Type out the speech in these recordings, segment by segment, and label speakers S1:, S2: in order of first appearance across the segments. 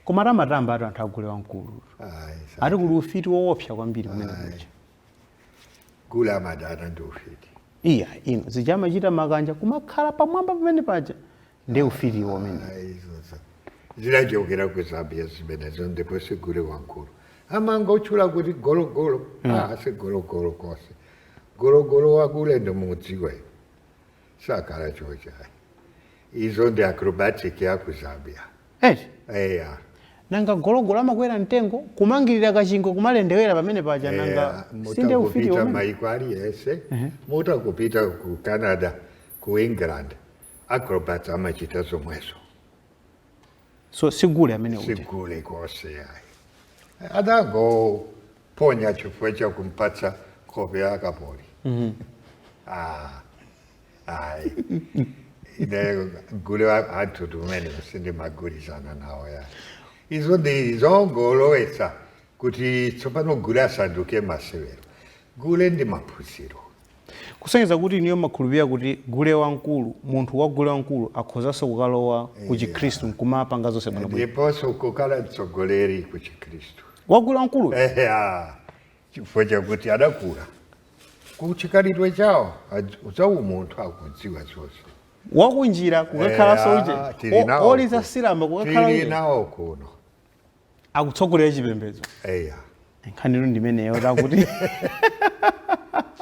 S1: koma amatambatu anthu agule wamkulu Ayi, sa- ati kuli ufiti woopsa kwambiri kumene
S2: kuja gule amadana ndi ufiti iya inu
S1: zija amachita makanja kumakhala pamwamba pamene paja ndi ufiti umenewo Ah, izo za-
S2: zinachokera ku Zambia zimenezo ndipo sigule wamkulu amangotchula kuti gologolo ah, si gologolo konse gologolo wagule ndimudziwa iwe sakhala choncho ayi izo ndi acrobatic ya ku Zambia eti eya
S1: nanga gologolo amakwera mtengo kumangirira kachingwe kumalendewera pamene paja nanga si ndiye ufiti mutangopita umene maiko aliwonse
S2: mutapita ku Canada ku England Acrobats amachita
S1: zomwezo. So sigule amene uja. Sigule
S2: konse ayi. Adangoponya chifukwa cha kumpatsa kope ya kapoli. Mhm. Ah. Ayi. Ine gule wa anthutu amene sindimagwirizana nawo yayi. Izo ndi zongolowetsa kuti tsopano gule asanduke masewero. Gule ndi maphunziro.
S1: kusonyeza kuti inuyo mmakhulupirira kuti gule wamkulu, munthu wa gule wamkulu akhozanso kukalowa ku chikhristu Yeah. nkumapanga zonse bwinobwino. ndiponso kukhala
S2: mtsogoleri ku chikhristu Wa gule wamkulu
S1: eya
S2: chifukwa chakuti adakula ku chikhalidwe chawo adz- za umunthu akudziwa zonse wakunjira
S1: kukakhalanso Eya, uje. tili O- nawo Oli ku- zasilamba kukakhala tili uje. nawo kuno akutsogolera chipembedzo eya nkhanitu ndimeneyo takuti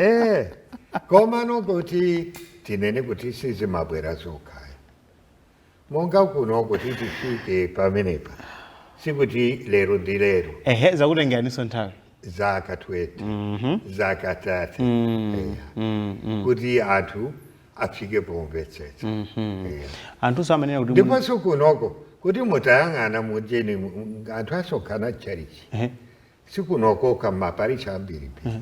S1: eh
S2: koma no kuti tinene kuti sizimabwera zokha monga kuno kuti tifike pamenepa sikuti lero ndi lero ehe
S1: zakutengeraninso nthawi zaka 20
S2: zaka 30 eya kuti anthu afike pomvetsetsa
S1: Eh. anthunso amanena kuti mu- ndiponso
S2: kunoko kuti mutayang'ana mujeni anthu asonkhana tchalitchi Ehe. sikuno kokha maparishi ambirimbiri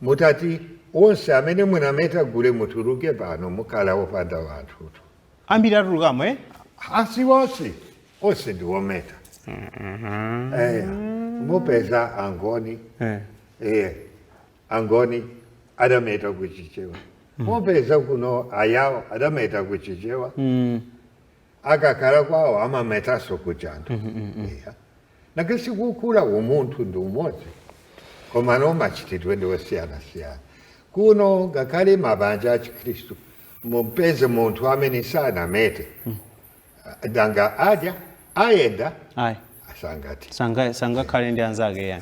S2: mutati onse amene munameta gule mutuluke pano mukhala mopanda wanthutu ambiri
S1: atulukamo eh?
S2: asi onse onse ndi ometa Eh, mupeza angoni Eh. eh, Angoni adameta ku Chichewa. Mupeza kuno Ayao adameta ku Chichewa. Mm. Akakhala kwawo amametanso ku chinthu. Mm, mm, mm. Yeah. Nanga sikukula umunthu ndi umodzi. Koma no machitidwe ndi osiyanasiyana. Kuno ngakhale mabanja a Chikhristu mumpeze munthu amene sanamete.
S1: Nanga adzayenda
S2: Ayi.
S1: asangati.
S2: Sanga-
S1: sangakhale ndi
S2: anzake yayi.